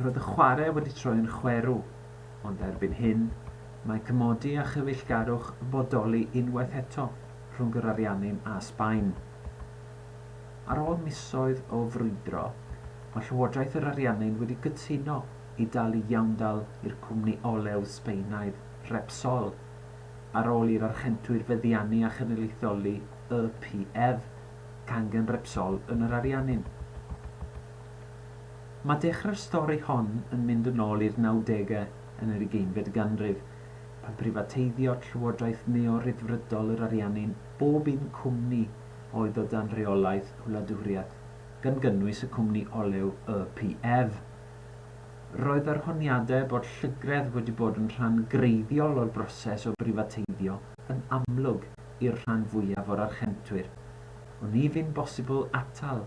Roedd y chwarae wedi troi yn chwerw, ond erbyn hyn, mae cymodi a chyfeillgarwch yn bodoli unwaith eto rhwng yr Ariannin a Sbaen. Ar ôl misoedd o frwydro, mae Llywodraeth yr Ariannin wedi cytuno i dalu iawndal i'r cwmni olew Sbaenaidd Repsol, ar ôl i'r Archentwyr feddiannu a chynulleidfaoli YPF, cangen Repsol yn yr Ariannin. Mae dechrau'r stori hon yn mynd yn ôl i'r nawdegau yn yr ugeinfed ganrif, pan brifateiddio llywodraeth neo-Ryddfrydol yr Ariannin bob un cwmni oedd o dan reolaeth y wladwriaeth, gan gynnwys y cwmni olew YPF. Roedd yr honiadau bod llygredd wedi bod yn rhan greiddiol o'r broses o brifateiddio yn amlwg i'r rhan fwyaf o'r Archentwyr. Oni fu'n bosibl atal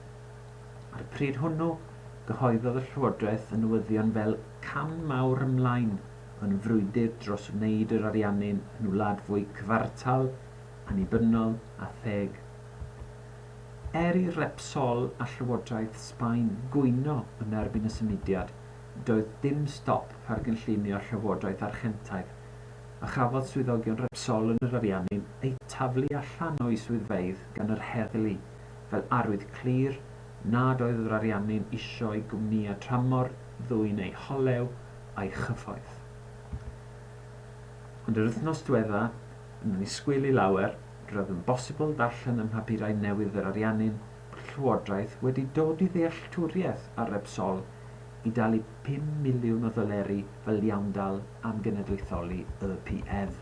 Ar y pryd hwnnw, cyhoeddodd y Llywodraeth y newyddion fel cam mawr ymlaen yn frwydr dros wneud yr Ariannin yn wlad fwy cyfartal, annibynnol a theg. Er i Repsol a Llywodraeth Sbaen gwyno yn erbyn y symudiad, doedd dim stop ar gynllunio Llywodraeth Argentaidd, a chafodd swyddogion Repsol yn yr Ariannin eu taflu allan o'u swyddfeydd gan yr heddlu. fel arwydd clir nad oedd yr Ariannin isio i gwmnïau tramor ddwyn eu holew a'i chyfoeth. Ond yr wythnos dwedda, yn annisgwyl i lawer, roedd yn bosibl darllen ym mhapurau newydd yr Ariannin bod y Llywodraeth wedi dod i ddealltwriaeth ar Repsol i dalu pum miliwn o ddoleri fel iawndal am genedlaetholi Y Pf.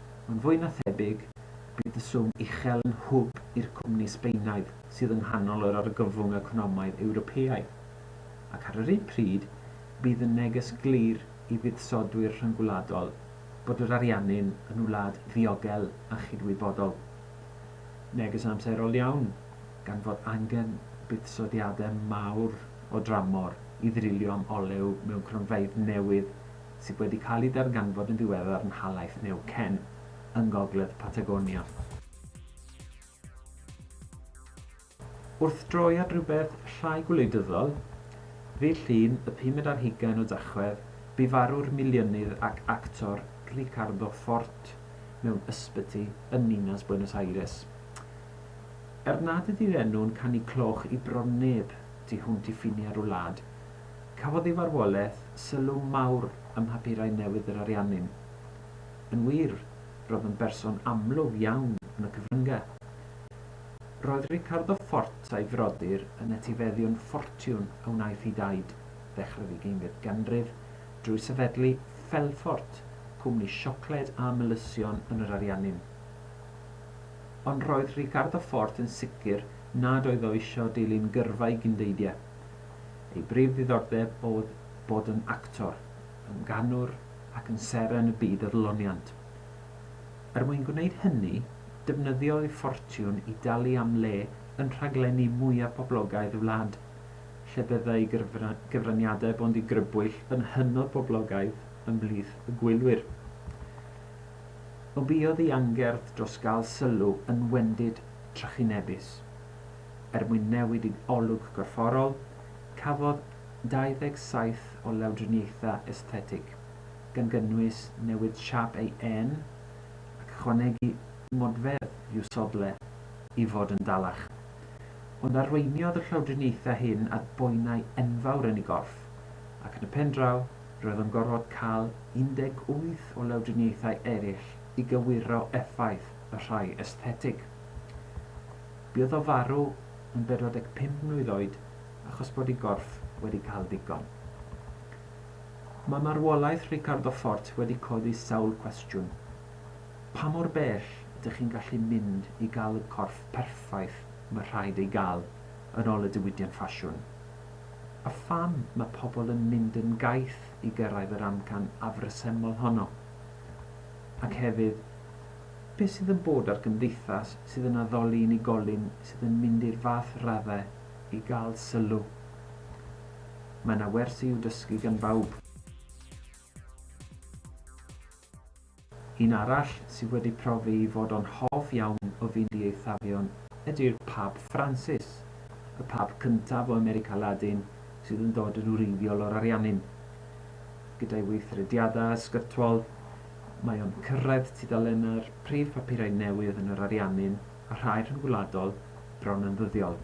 Ond fwy na thebyg, bydd y swm uchel yn hwb i'r cwmni Sbaenaidd sydd yng nghanol yr argyfwng economaidd Ewropeaidd. Ac ar yr un pryd, bydd yn neges glir i fuddsodwyr rhyngwladol bod yr Ariannin yn wlad ddiogel a chydwybodol. Neges amserol iawn, gan fod angen buddsoddiadau mawr o dramor i ddrilio am olew mewn cronfeydd newydd sydd wedi cael eu darganfod yn ddiweddar yn nhalaith Neuquén, yng ngogledd Patagonia. Wrth droi at rywbeth llai gwleidyddol, ddydd Llun y pumed ar hugain o Dachwedd, bu farw'r miliynydd ac actor Ricardo Fort mewn ysbyty yn ninas Buenos Aires. Er nad ydy'r enw'n canu cloch i bron neb tu hwnt i ffiniau'r wlad, Cafodd ei farwolaeth sylw mawr ym mhapurau newydd yr Ariannin. Yn wir, roedd yn berson amlwg iawn yn y cyfryngau. Roedd Ricardo Ffort a'i frodyr yn etifeddion ffortiwn a wnaeth i daid ddechrau'r ddeugeiniad ganrif drwy sefydlu Felfort, cwmni siocled a melysion yn yr Ariannin. Ond roedd Ricardo Ffort yn sicr nad oedd o eisiau dilyn gyrfa ei gyndeidiau, Ei brif ddiddordeb oedd bod yn actor, yn ganwr ac yn seren y byd adloniant. Er mwyn gwneud hynny, defnyddiodd ei ffortiwn i dalu am le yn rhaglenni mwyaf poblogaidd y wlad, lle byddai gyfraniadau Bondi Grybwyll yn hynod boblogaidd ymhlith y gwylwyr. O buodd ei angerdd dros gael sylw yn wendid trychinebus. er mwyn newid ei olwg gorfforol, cafodd 27 o lawdriniaethau esthetig, gan gynnwys newid siâp ei ên ac ychwanegu modfedd i'w sodle i fod yn dalach. Ond arweiniodd y llawdriniaethau hyn at boenau enfawr yn ei gorff, ac yn y pendraw, roedd o'n gorfod cael 18 o lawdriniaethau eraill i gywiro effaith y rhai esthetig. Buodd o farw yn 45 mlwydd oed achos bod ei gorff wedi cael digon. Mae marwolaeth Ricardo Fort wedi codi sawl cwestiwn. Pa mor bell ydych chi'n gallu mynd i gael y corff perffaith mae rhaid ei gael yn ol y diwydiant ffasiwn? A pham mae pobl yn mynd yn gaeth i gyrraedd yr amcan afresymol honno? Ac hefyd, Beth sydd yn bod ar gymdeithas sydd yn addoli unigolyn sydd yn mynd i'r fath raddau i gael sylw? Mae yna wers i'w dysgu gan bawb. Un arall sydd wedi profi ei fod o'n hoff iawn o fynd i eithafion ydy'r Pab Ffransis, y Pab cyntaf o America Ladin sydd yn dod yn wreiddiol o'r Ariannin. Gyda'i weithrediadau ysgytwol, Mae o'n cyrraedd tudalennau'r prif bapurau newydd yn yr Ariannin a rhai rhyngwladol bron yn ddyddiol.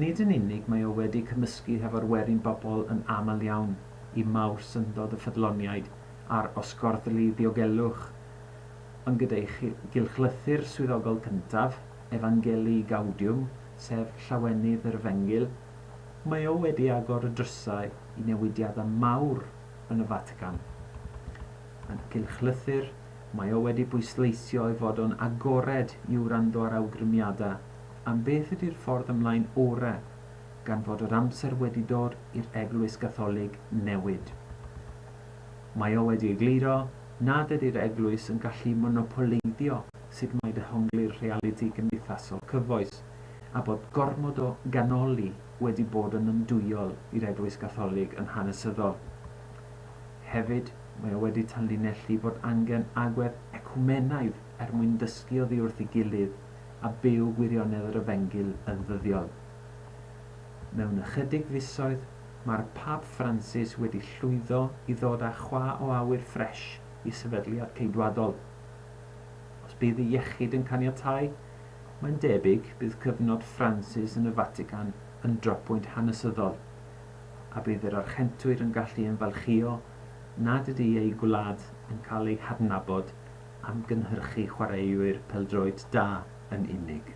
Nid yn unig mae o wedi cymysgu hefo'r werin bobl yn aml iawn i mawr syndod y ffyddloniaid a'r osgorddlu ddiogelwch, ond gyda'i gylchlythyr swyddogol cyntaf, Evangelii Gaudium, sef Llawenydd yr Efengyl, mae o wedi agor y drysau i newidiadau mawr yn y Fatican. Yn gylchlythyr, mae o wedi bwysleisio ei fod o'n agored i wrando ar awgrymiadau am beth ydy'r ffordd ymlaen orau, gan fod yr amser wedi dod i'r Eglwys Gatholig newid. Mae o wedi egluro nad ydy'r Eglwys yn gallu monopoleiddio sut mae dehongli'r rhealiti cymdeithasol cyfoes, a bod gormod o ganoli wedi bod yn yndwyol i'r Eglwys Gatholig yn hanesyddol. Hefyd, mae o wedi tanlinellu fod angen agwedd ecwmenaidd er mwyn dysgu oddi wrth ei gilydd a byw gwirionedd yr Efengyl yn ddyddiol. Mewn ychydig fisoedd, mae'r Pab Ffransis wedi llwyddo i ddod â chwa o awyr ffresh i sefydliad Ceidwadol. Os bydd ei iechyd yn caniatáu, Mae'n debyg bydd cyfnod Ffransis yn y Fatican yn drapwynt hanesyddol, a bydd yr Archentwyr yn gallu ymfalchïo nad ydy eu gwlad yn cael ei hadnabod am gynhyrchu chwaraewyr pêl-droed da yn unig.